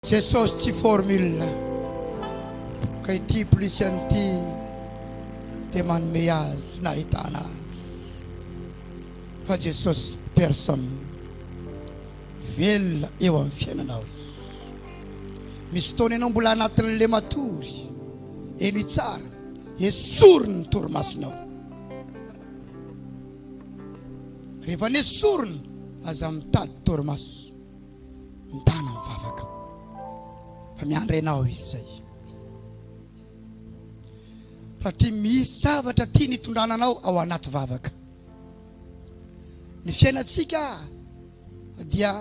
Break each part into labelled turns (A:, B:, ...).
A: Jesosy tsy formule ka ity plus an'ity dia manome azy nahitana azy fa Jesosy personne velona eo amin'ny fiainanao izy misy fotoana ianao mbola anatin'le matory eny tsara esoriny ny torimasonao rehefa nesoriny aza mitady torimaso Mitana amin'ny vavaka fa miandry anao izy zay. Satria misy zavatra tiany hitondrana anao ao anaty vavaka. Ny fiainantsika dia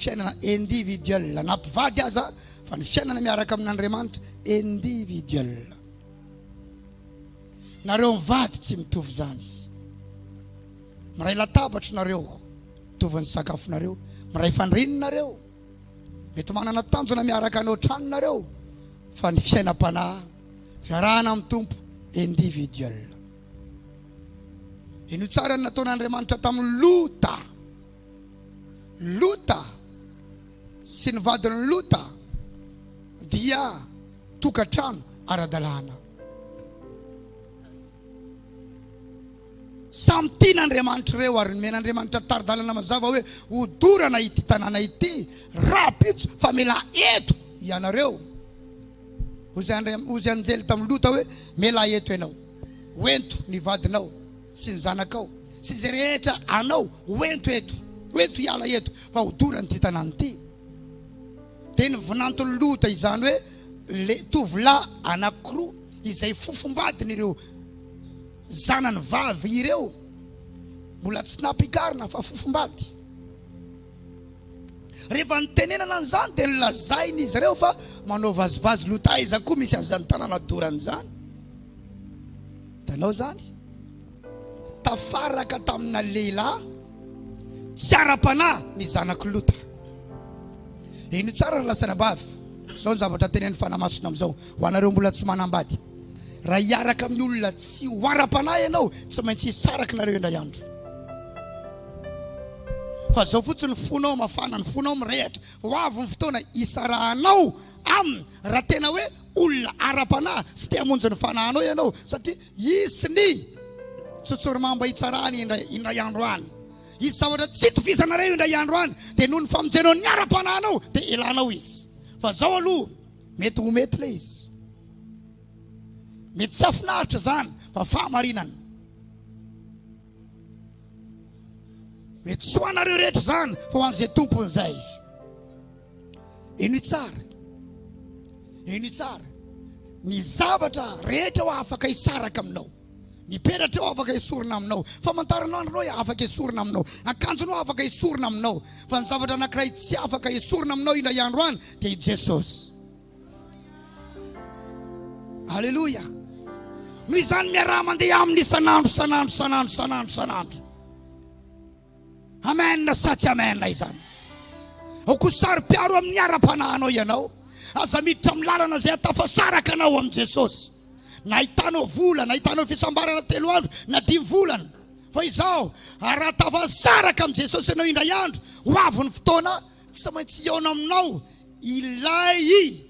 A: fiainana individuel na mpivady aza fa ny fiainana miaraka amin'Andriamanitra individuel. Nareo mivady tsy mitovy izany. Miray latabatra nareo. Mitovy ny sakafonareo. Miray fandrininy nareo. Mety manana tanjona miaraka any otrany nareo fa ny fiainam-panahy fiarahana amin'ny Tompo individuel. Ino tsara ny nataon'Andriamanitra tamin'ny Lota. Lota sy ny vadin'ny Lota dia tokantrano ara-dalàna. Samy tiana Andriamanitra ireo ary nomen'Andriamanitra tari-dalana mazava hoe hodorana ity tanàna ity rahampitso fa mila eto ianareo. Hozy anjely tamin'i Lota hoe, Mila eto ianao. Hoento ny vadinao sy ny zanakao sy izay rehetra anao hoento eto, hoento hiala eto fa hodorana ity tanàna ity. Dia nivinanton'i Lota izany hoe tovolahy anankiroa izay fofombadiny ireo. Zanany vavy ireo mbola tsy nampikarina fa fofombady. Rehefa nitenenana an'izany dia nolazain'izy ireo fa manao vazivazy loha taiza koa misy an'izany tanàna dorana izany. Hitanao izany? Tafaraka tamina lehilahy tsy ara-panahy ny zanak'i Lota. Heno tsara ry lasanabavy, izao ny zavatra tenenin'ny Fanahy Masina amin'izao ho anareo mbola tsy manambady. Raha hiaraka amin'ny olona tsy ho ara-panahy ianao, tsy maintsy hisaraky nareo indray andro. Fa izao fotsiny ny fonao mafana, ny fonao mirehatra. Ho avy ny fotoana hisarahanao aminy raha tena hoe olona ara-panahy sy te hamonjy ny fanahinao ianao, satria hisy ny tsotsorimamba hitsarany indray, indray andro any. Hisy zavatra tsy itovizanareo indray andro any, dia noho ny famonjenao ny ara-panahinao dia elanao izy. Fa izao aloha. Mety ho mety ilay izy. Mety tsy hahafinaritra izany fa fahamarinana. Mety tsy ho anareo rehetra izany fa ho an'izay tompony izay. Eny tsara. Eny tsara. Ny zavatra rehetra ho afaka hisaraka aminao. Ny peratrao afaka esorina aminao, famantaranandronao hoe afaka esorina aminao, akanjonao afaka esorina aminao, fa ny zavatra anankiray tsy afaka esorina aminao indray andro any dia i Jesosy. Aleloia. Noho izany miaraha mandeha aminy isan'andro, isan'andro, isan'andro, isan'andro, isan'andro. Amen sa tsy amen izany? Ao koa saro-piaro amin'ny ara-panahinao ianao. Aza miditra amin'ny lalana izay ahatafasaraka anao amin'i Jesosy. Na ahitanao vola, na ahitanao fisambarana telo andro, na dimy volana. Fa izao, raha tafasaraka amin'i Jesosy ianao indray andro, ho avy ny fotoana, tsy maintsy hihaona aminao ilay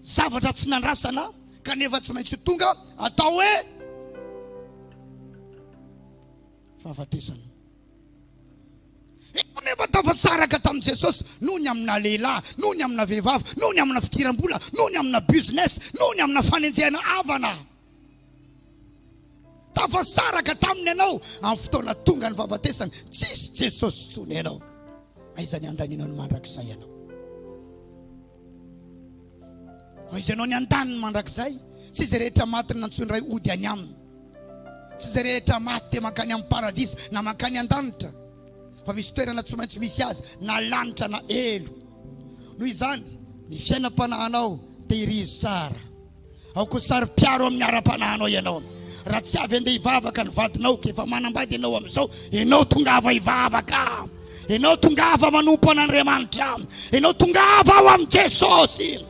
A: zavatra tsy nandrasana, kanefa tsy maintsy ho tonga atao hoe. fahafatesana. Eo nefa tafasaraka tamin'i Jesosy noho ny amina lehilahy, noho ny amina vehivavy, noho ny amina fidiram-bola, noho ny amina business, noho ny amina fanenjehana havana. Tafasaraka taminy ianao amin'ny fotoana tonga ny fahafatesana, tsisy Jesosy intsony ianao. Aiza ny handaninao ny mandrakizay ianao? Fa izy ianao ny andaniny mandrakizay, tsy izay rehetra maty nantsoiny Ray hody any Aminy, tsy izay rehetra maty dia mankany amin'ny paradisa na mankany an-danitra, fa misy toerana tsy maintsy misy azy na lanitra na helo. Noho izany, ny fiainam-panahinao, tehirizo tsara. Aoka ho saro-piaro amin'ny ara-panahinao ianao. Raha tsy avy andeha hivavaka ny vadinao, efa manambady ianao amin'izao, ianao tongava hivavaka. Ianao tongava manompo an'Andriamanitra. Ianao tongava ao amin'i Jesosy.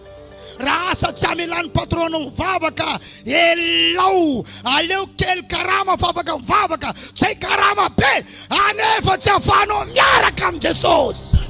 A: Raha asa tsy hamelà ny patronao mivavaka, elao. Aleo kely karama fa afaka mivavaka. Tsy hay karama be, anefa tsy afahanao miaraka amin'i Jesosy.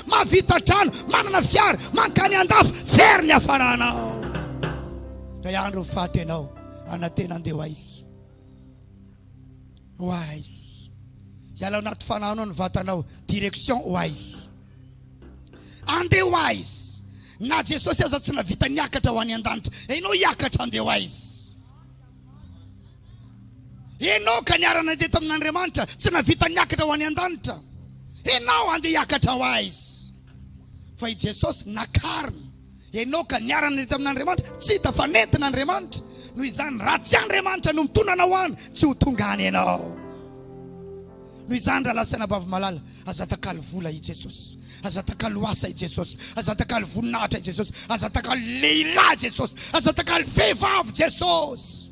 A: Mahavita trano, manana fiara, mankany andafy, very ny hafaranao. Ray andro ny faty anao, anantena andeha ho aiza? Ho aiza? Hiala ao anaty fanahy anao ny vatanao, direction ho aiza? Andeha ho aiza? Na Jesosy aza tsy nahavita niakatra ho any an-danitra, enao hiakatra andeha ho aiza? Enoka niara-nandeha tamin'Andriamanitra, tsy nahavita niakatra ho any an-danitra. Enao andeha hiakatra ho aiz? Fa i Jesosy nakarina. Enoka niara-nandeha tamin'Andriamanitra, tsy hita fa nentin'Andriamanitra. Noho izany, raha tsy Andriamanitra no mitondra anao any, tsy ho tonga any ianao. Noho izany, rahalahy sy anabavy malala, aza atakalo vola i Jesosy. Aza atakalo asa i Jesosy. Aza atakalo voninahitra i Jesosy. Aza atakalo lehilahy Jesosy. Aza atakalo vehivavy Jesosy.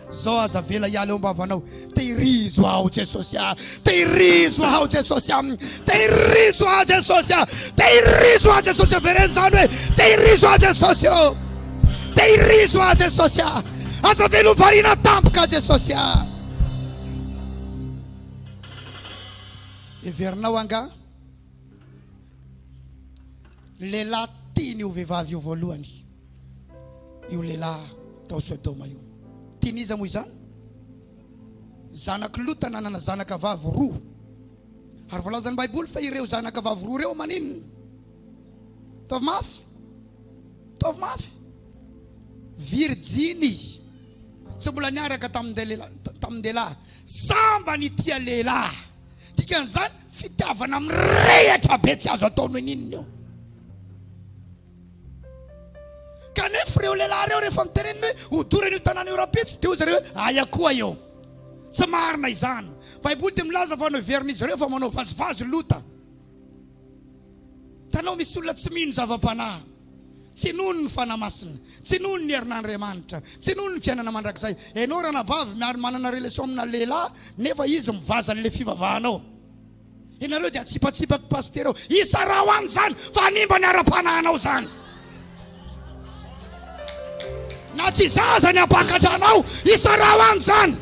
A: Zao aza avela hiala eo am-bavanao. Tehirizo aho Jesosy ah, tehirizo aho Jesosy ah, tehirizo aho Jesosy ah, tehirizo aho Jesosy. Avereno izany hoe tehirizo aho Jesosy oh, tehirizo aho Jesosy ah, aza avela ho variana tampoka Jesosy ah. Heverinao angaha lehilahy tiany ho vehivavy io voalohany? io lehilahy tao Sodoma io. Tian'iza moa izany? Zanak'i Lota nanana zanaka vavy roa. Ary voalazan'ny Baiboly fa ireo zanaka vavy roa ireo maninona? Taovy mafy. Taovy mafy. Virjiny. Tsy mbola niaraka tamin-dehilahy. Samba ny tia lehilahy. Dikan'izany fitiavana mirehatra be tsy azo atao noho inona io. Kanefa ireo lehilahy ireo rehefa mitenenina hoe hodorana io tanàna io rahampitso dia hoy zareo hoe aia koa eo. Tsy marina izany. Baiboly dia milaza fa noheverin'izy ireo fa manao vazivazy Lota. Hitanao misy olona tsy mino zava-panahy. Tsy nohony ny Fanahy Masina, tsy nohony ny herin'Andriamanitra, tsy nohony ny fiainana mandrakizay. Ianao ranabavy miary manana relation amina lehilahy nefa izy mivaza an'ilay fivavahanao. Ianareo dia atsipatsipako pasitera ao. Izarao any izany fa hanimba ny ara-panahinao izany. Na tsy izaho aza ny hampakatra anao, izarao any izany.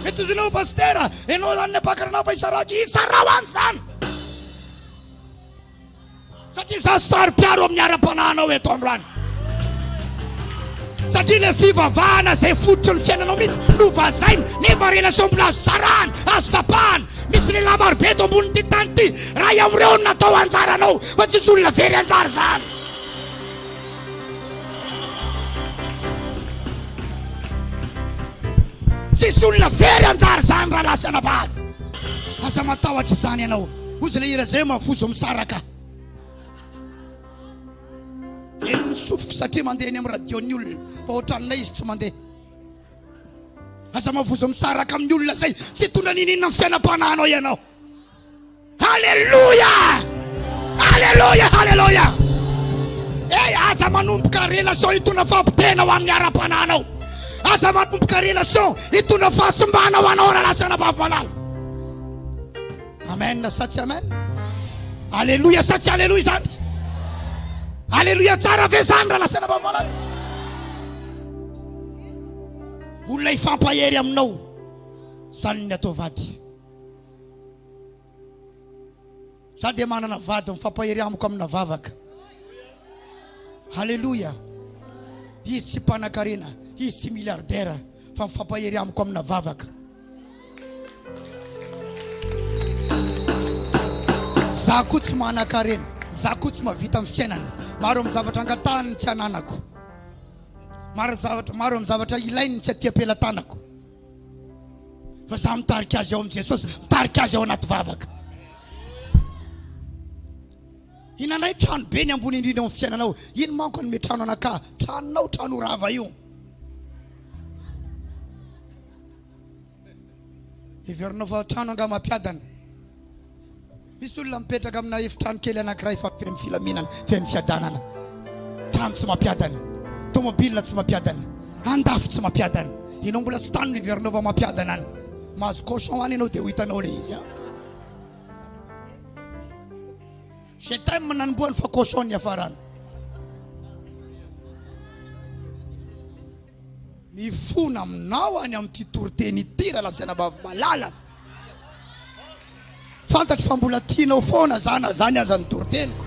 A: Mety ho ianao pasitera, ianao izany ny hampakatra anao fa izarao, izarao any izany. Satria za saro-piaro amin'ny ara-panahinao eto androany. Satria le fivavahana zay fototry ny fiainanao mihitsy no vazaina nefa relation mbola azo sarahana, azo tapahana. Misy lehilahy marobe eto ambonin'ity tany ity, ray amin'ireo no natao anjaranao fa tsisy olona very anjara zany. Tsisy olona very anjara zany rahalahy sy anabavy. Aza matahotra izany ianao. Hoy izay le hira izay mafozo misaraka. Heno ny sofiko satria mandeha any amin'ny radio ny olona fa ohatran'ilay izy tsy mandeha. Aza mavozo misaraka amin'ny olona izay tsy hitondra nininona ny fiainam-panahinao ianao. Alléluia! Alléluia! Alléluia! Hey, eh, aza manomboka relation hitondra fampitena ho amin'ny ara-panahinao. Aza manomboka relation hitondra fahasimbana ho anao raha lasa anabavy malala. Amen sa tsy amen? Aleloia sa tsy aleloia izany? Aleloia tsara ve izany raha lasaina vahavalana? Olona hifampahery aminao izany ny atao vady. Za dia manana vady mifampahery amiko amina vavaka. Aleloia. Izy tsy mpanankarena, izy tsy milliardaire fa mifampahery amiko amina vavaka. Za koa tsy manankarena, za koa tsy mahavita amin'ny fiainana. Maro amin'ny zavatra angatahany ny tsy ananako, maro zavatra, maro amin'ny zavatra ilainy ny tsy atiam-pelatanako. Fa za mitarika azy ao amin'i Jesosy, mitarika azy ao anaty vavaka. Hinanay trano be ny ambony indrindra ao amin'ny fiainanao. Iny manko hanome trano anakah, tranonao, trano rava io. Heverina fa trano angaha mampiadana. Misy olona mipetraka amina efitrano kely anankiray fa feno filaminana, feno fiadanana. Trano tsy mampiadana, tômôbila tsy mampiadana, andafy tsy mampiadana. Ianao mbola tsy tany no heverinao fa mampiadana any. Mahazo cochon any ianao dia ho hitanao ilay izy. J'ai time nanombohany fa cochon niafarany. Mifona aminao any amin'ity toriteny ity Ralazainabavy malala. Fantatro fa mbola tianao foana za na zany aza ny toriteniko.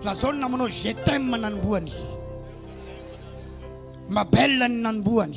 A: Lazao ny namanao je t'aime nanombohany. Ma belle ny nanombohany.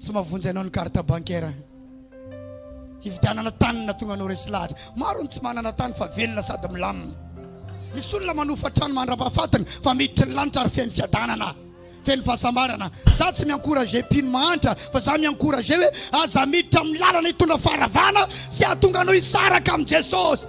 A: Tsy mavonjy anao ny carte bancaire hividianana tany na tonga anao resy lahatra. Maro ny tsy manana tany fa velona sady milamina. Misy olona manofa trano mandrapahafatiny fa miditry ny lanitra ary feno fiadanana, feno fahasambarana. Za tsy mi-encourager mpino mahantra fa za mi-encourager hoe aza miditra amin'ny lalana hitondra faharavana sy ahatonga anao hisaraka amin'i Jesosy.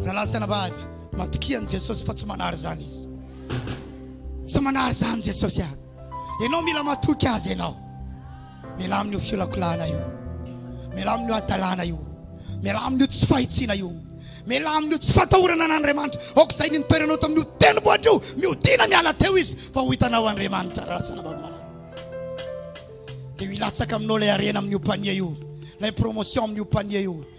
A: Rahalahy sy anabavy, matokia an'i Jesosy fa tsy manary izany Izy. Tsy manary izany Jesosy a. Ianao mila matoky Azy ianao. Miala amin'io fiolakolahana io. Miala amin'io hadalana io. Miala amin'io tsy fahitsiana io. Miala amin'io tsy fatahorana an'Andriamanitra. Aoka izay nitoeranao tamin'io tendrombohitra io, mihodina miala teo Izy fa ho hitanao Andriamanitra rahalahy sy anabavy malala. Dia hilatsaka aminao ilay harena amin'io panier io, ilay promotion amin'io panier io,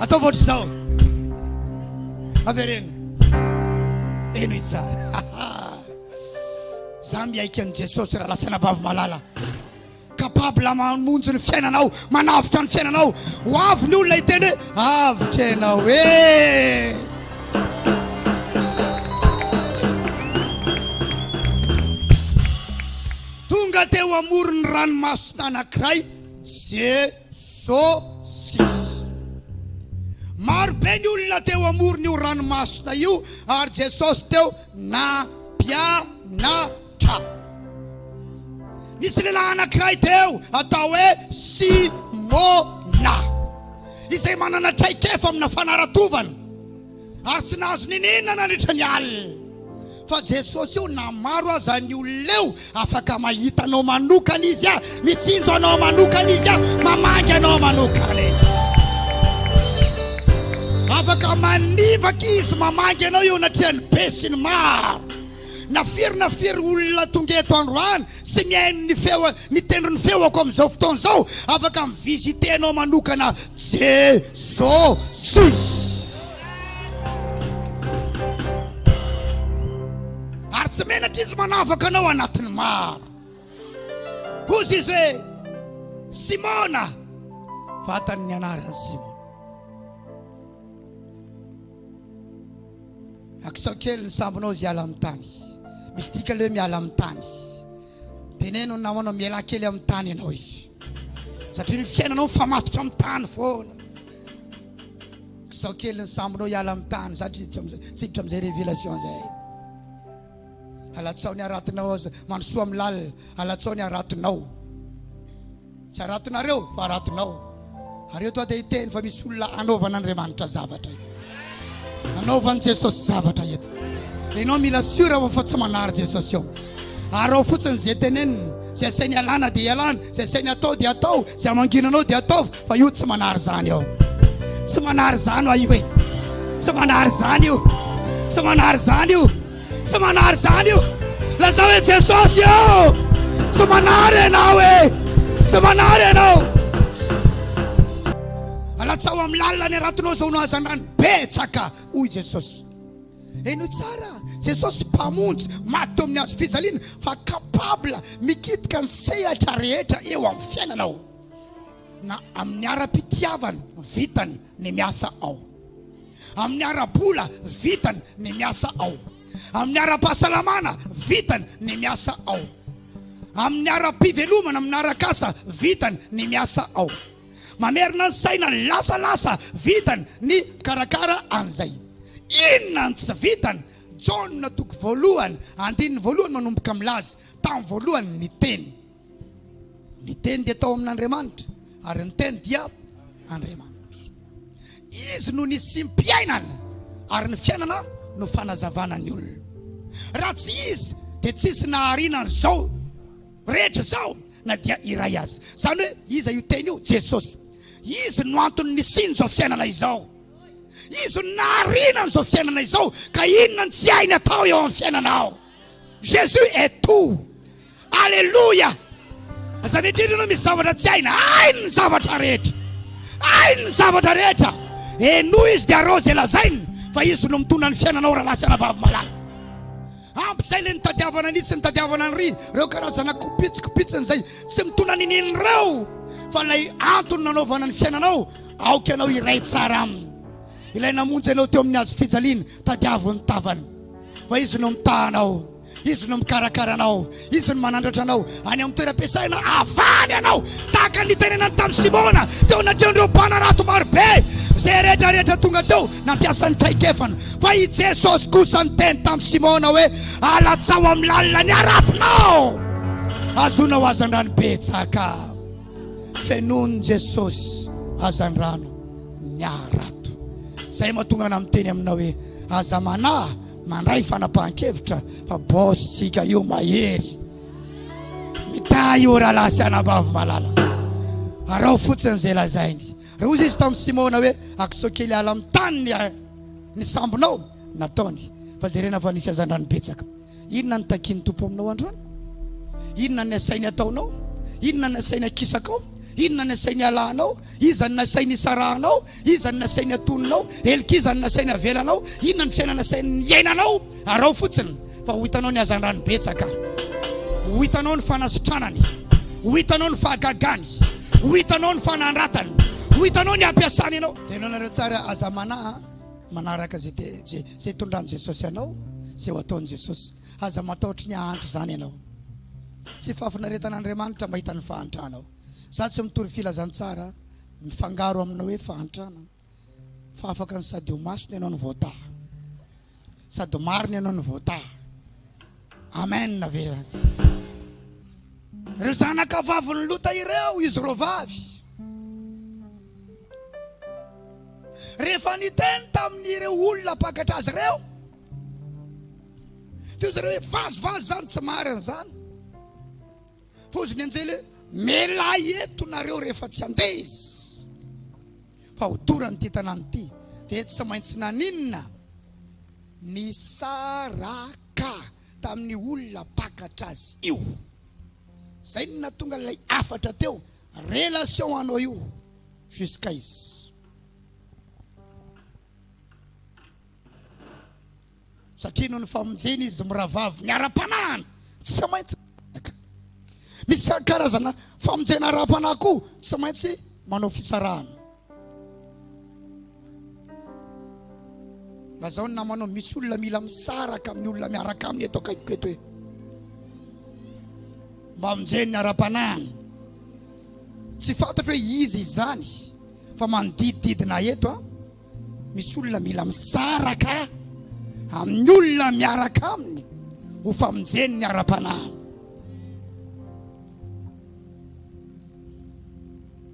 A: Ataovy ohatr'izao. Avereno. Eno itsara. Za miaiky an'i Jesosy raha lasana bavy malala. Capable mamonjy ny fiainanao, manavotra ny fiainanao. Ho avy ny olona hiteny hoe Avika ianao eh! Tonga teo amoron'ny ranomaso tanankiray Jesosy. Maro be ny olona teo amoron'io ranomasina io ary Jesosy teo nampianatra. Tra. Nisy lehilahy anankiray teo atao hoe Simona, izay manana traikefa amina fanaratovana, ary tsy nahazo niniana nandritra ny alina fa Jesosy io, na maro aza ny olona eo. Afaka mahita anao manokana izy a, mitsinjo anao manokana izy a, mamangy anao manokana izy. Afaka manivaka izy, mamangy anao eo anatrehan'ny be sy ny maro. Na firy na firy olona tonga eto androany sy mihaino ny feo ny tendron'ny feoko amin'izao fotoana izao, afaka mi-visiter anao manokana Jesosy. Ary tsy menatra Izy manavaka anao anatin'ny maro. Hozy Izy hoe, Simona, vatan'ny anarany Simona. Akisao kely ny sambonao izy hiala amin'ny tany. Misy dikany ilay hoe miala amin'ny tany. Teneno ny namanao mialà kely amin'ny tany ianao izy. Satria ny fiainanao mifamatotra amin'ny tany foana. Akisao kely ny sambonao hiala amin'ny tany. Zatra izy tsiditra amin'izay révélation izay. Alatsao ny haratonao, mandrosoa amin'ny lalina. Alatsao ny haratonao. Tsy haratonareo fa haratonao. Ary eto aho dia hiteny fa misy olona hanaovan'Andriamanitra zavatra eto. Hanaovan'i Jesosy zavatra eto. Dia ianao mila sûr ao fa tsy manary Jesosy ao. Ary ao fotsiny izay teneniny, izay asainy alana dia alana, izay asainy atao dia atao, izay amanginanao dia ataovy fa io tsy manary izany ao. Tsy manary izany aho io e. Tsy manary izany io. Tsy manary izany io. Tsy manary izany io. Lazao hoe Jesosy ô, tsy manary ianao e, tsy manary ianao. Alatsaho amin'ny lalina ny haratonao izao no hazandrano betsaka, hoy Jesosy. Henoy tsara, Jesosy Mpamonjy maty teo amin'ny hazo fijaliana fa capable mikitika ny sehatra rehetra eo amin'ny fiainanao na amin'ny ara-pitiavany vitany ny miasa ao. Amin'ny ara-bola, vitany ny miasa ao. Amin'ny ara-pahasalamana, vitany ny miasa ao. Amin'ny ara-pivelomana, amin'ny arak'asa, vitany ny miasa ao. Mamerina ny saina, lasalasa, vitany ny mikarakara an'izay. Inona no tsy vitany? Jaona toko voalohany, andininy voalohany manomboka milaza, Tamin'ny voalohany ny Teny. Ny Teny dia tao amin'Andriamanitra, ary ny Teny dia Andriamanitra. Izy no nisiam-piainana, ary ny fiainana no fanazavana ny olona. Raha tsy Izy dia tsisy nahariana an'izao rehetra izao na dia iray aza. Izany hoe iza io Teny io? Jesosy. Izy no antony nisian'izao fiainana izao. Izy no nahariana an'izao fiainana izao. Ka inona no tsy hainy atao eo amin'ny fiainanao? Jésus est tout. Alléluia. Aza mitriny ianao misy zavatra tsy hainy. Hainy ny zavatra rehetra. Hainy ny zavatra rehetra. Henoy izy dia arao izay lazainy fa izy no mitondra ny fiainanao raha lasa anabavy malala. Ampy izay ilay nitadiavana an'itsy nitadiavana an'ry ireo karazana kopitsy kopitsiny izay tsy mitondra ny neny ireo fa ilay antony nanaovana ny fiainanao aoka ianao iray tsara aminy. Ilay namonjy anao teo amin'ny hazo fijaliana, tadiavo ny tavany, fa Izy no mitaha anao, Izy no mikarakara anao, Izy no manandratra anao any amin'ny toeram-piasana, avaly anao tahaka ny nitenenany tamin'i Simona teo anatrehan'ireo mpanarato marobe izay rehetra rehetra tonga teo nampiasa ny traikefany. Fa i Jesosy kosa niteny tamin'i Simona hoe, Alatsaho amin'ny lalina ny haratonao, azonao hazandrano betsaka. Fenoin'i Jesosy hazandrano. ny harato. Zay mahatonga anah miteny aminao hoe aza manahy mandray fanapahan-kevitra fa boss tsika io mahery. Mitahy io rahalahy sy anabavy malala. Araho fotsiny zay lazainy. Raha hozy izy tamin'i Simona hoe akisao kely ala amin'ny tany ny sambonao, nataony. Fa jerena fa nisy hazandrano betsaka. Inona no takian'ny Tompo aminao androany? Inona no nasainy hataonao? Inona no nasainy hakisakao? Inona no nasainy halahanao? Iza no nasainy hisarahanao? Iza no nasainy hatoninao? Helik'iza no nasainy havelanao? Inona no fiainana nasainy hiainanao? Araho fotsiny fa ho hitanao ny hazandrany betsaka, ho hitanao ny fanasitranany, ho hitanao ny fahagagany, ho hitanao ny fanandratany, ho hitanao ny hampiasany ianao. Ianao nareo tsara, aza manahy. Manaraka izay tondran'i Jesosy anao, izay ho ataon'i Jesosy. Aza mataotry ny hahantra izany ianao. Tsy fahafinaretan'Andriamanitra mahita ny fahantranao. Za tsy mitory filazantsara mifangaro amina hoe fahantrana, fa afaka ny sady ho masina ianao no voataha, sady marina ianao no voataha. Amen ve zany? Ireo zanaka vavin'i Lota ireo izy roa vavy. Rehefa niteny tamin'ireo olona mpakatra azy ireo, teo izy ireo hoe vazivazy zany tsy marina zany. Pozy ny anjely hoe melay eto nareo rehefa tsy andeha izy fa ho dorany ity tanàna ity dia tsy maintsy naninona nisaraka Ka tamin'ny olona mpakatra azy io. Zay no nahatonga an'ilay hafatra teo, relation anao io jusqu'à izy. Satria noho ny famonjena izy mirahavavy miara-panahana, tsy maintsy mifanaraka. Misy karazana famonjena ara-panahy koa tsy maintsy manao fisarahana. Lazao ny namanao misy olona mila misaraka amin'ny olona miaraka aminy eto akaikiko eto hoe mba aminjeny ara-panahiny tsy fantatro hoe izy izany fa manodidididina eto a misy olona mila misaraka amin'ny olona miaraka aminy ho famonjeny ny ara-panahiny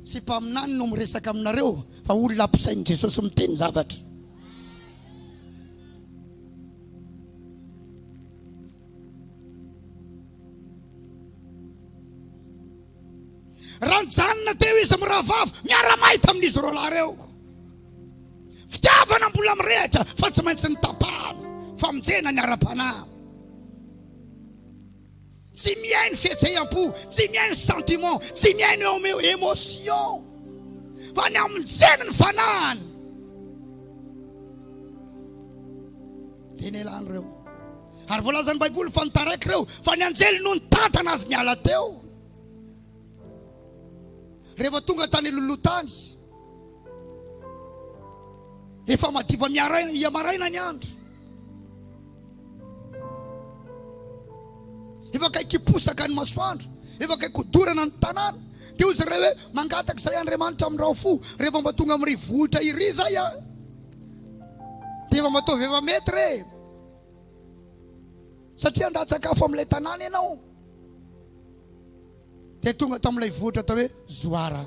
A: Tsy mpaminany no miresaka aminareo fa olona ampisain'i Jesosy miteny zavatra. Raha nijanona teo izy mirahavavy miara-mahay tamin'izy roa lahy ireo. Fitiavana mbola mirehatra fa tsy maintsy nitapahana famonjena ny ara-panahy. Tsy mihaino fihetseham-po, tsy mihaino sentiment, tsy mihaino émotion. Fa ny amin'ny jery ny fanahiny. Dia nelany ireo. Ary voalazan'ny Baiboly fa nitaraiky ireo fa ny anjely no nitantana azy niala teo. Rehefa tonga tany lolotany, efa madiva miaraina, ia maraina ny andro. Efa akaiky hiposaka ny masoandro, efa akaiky hodorana ny tanàna. Dia hoy izy ireo hoe, Mangataka izahay Andriamanitra amin'ny rafo, rehefa mba tonga amin'iry vohitra iry izay aho, dia efa mataovy efa mety re, satria handatsakafo amin'ilay tanàna ianao. Dia tonga tamin'ilay vohitra atao hoe Zoara.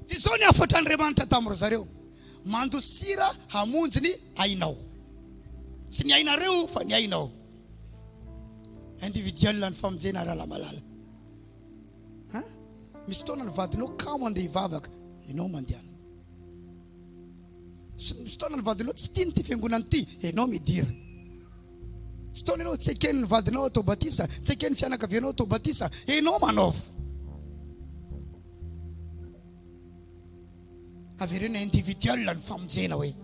A: Dia izao ny hafatra Andriamanitra tamin ry zareo, Mandosira hamonjy ny ainao. Tsy ny ainareo fa ny ainao. Individuel ny famonjena rahalahy malala. Ha? Misy fotoana ny vadinao kamo andeha hivavaka, ianao mandehana. Fotoana ny vadinao tsy tiany ity fiangonana ity, ianao midira. Fotoana ianao tsy eken'ny vadinao atao batisa, tsy eken'ny fianakavianao atao batisa, ianao manaova. Averena individuel ny famonjena hoe.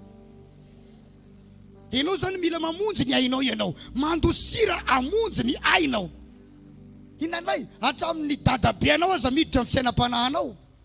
A: Ianao zany mila mamonjy ny ainao ianao, mandosira amonjy ny ainao. Inona indray? Hatramin'ny dadabe anao aza miditra amin'ny fiainam-panahinao.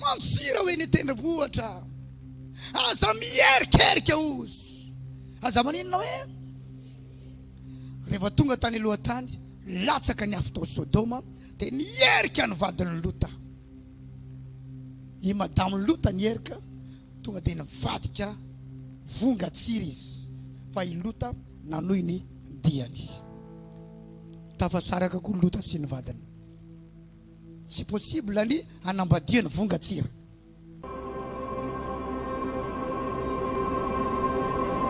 A: Mamosira ho eny an-tendrombohitra. Aza mierikerika ozy. Aza maninona hoe? Rehefa tonga tany alohan-tany, latsaka ny afo tao Sodoma, dia nierika ny vadin'i Lota. I madamin'i Lota nierika, tonga dia nivadika vongan-tsira izy. Fa i Lota nanohy ny diany. Tafasaraka koa Lota sy ny vadiny. Tsy possible ny hanambadia ny vongan-tsira.